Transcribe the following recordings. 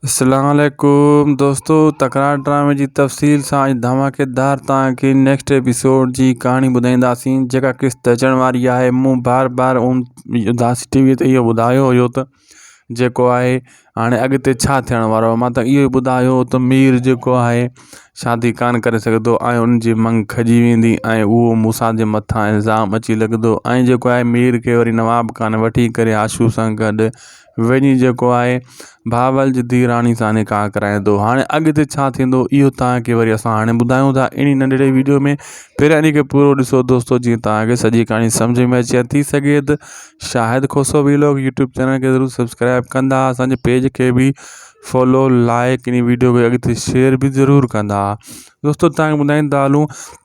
اسلام عليڪم دوستو تڪرار ڊرامي جي تفصيل سان اڄ ڌماڪيدار توهان کي نيڪسٽ ايپيسوڊ جي ڪهاڻي ٻڌائينداسين جيڪا قسط اچڻ واري آهي مون بار بار ان اداسي ٽي وي تي اهو ٻڌايو هيو ته جيڪو آهي هاڻي اڳتي ڇا ٿيڻ وارو آهي مان ته اهو ئي ٻڌايو هو ته مير جيڪو آهي شادي ڪانه ڪري سگهندو ۽ ان جي منگ کڄي ويندي ۽ اهو موسيٰ جي مٿان الزام اچي لڳندو ۽ جيڪو آهي مير کي وري نواب خان وٺي ڪري آشو سان گڏ وڃي جيڪو آهي بهاول جي ڌيء راڻي سان نڪاح ڪرائيندو هاڻي اڳتي ڇا ٿيندو اهو تان کي وري اسان هاڻي ٻڌايون ٿا اهڙي ننڍڙي ويڊيو ۾ پهرين اني کي پورو ڏسو دوستو جيئن تان کي سڄي ڪهاڻي سمجهه ۾ اچي ٿي سگهي ته Shahid Khoso vlog YouTube channel کي ضرور سبسڪرائب ڪندا اسان جي پيج کي به فالو لائڪ اني ويڊيو کي اڳتي شيئر به ضرور ڪندا دوستو تان کي ٻڌائين ته هلون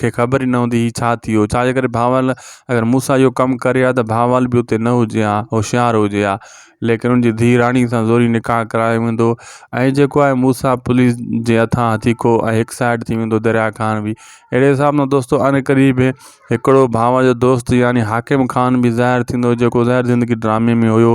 کي خبر ئي نه هوندي هي ڇا ٿي ويو، ڇاجي ڪري ڀانول اگر مون سان اهو ڪم ڪري ها ته ڀانول به اتي نه هجي ها، هوشيار هجي ها، ليڪن ان جي ڌيء راڻي سان زوري نڪاح ڪرايو ويندو ۽ جيڪو آهي موسيٰ پوليس جي هٿان هٿي کئو ۽ هڪ سائيڊ ٿي ويندو دريا خان به اهڙي حساب سان دوستو عنقريب هڪڙو ڀانول جو دوست يعني حاڪم خان به ظاهر ٿيندو جيڪو ظاهر زندگي ڊرامي ۾ هيو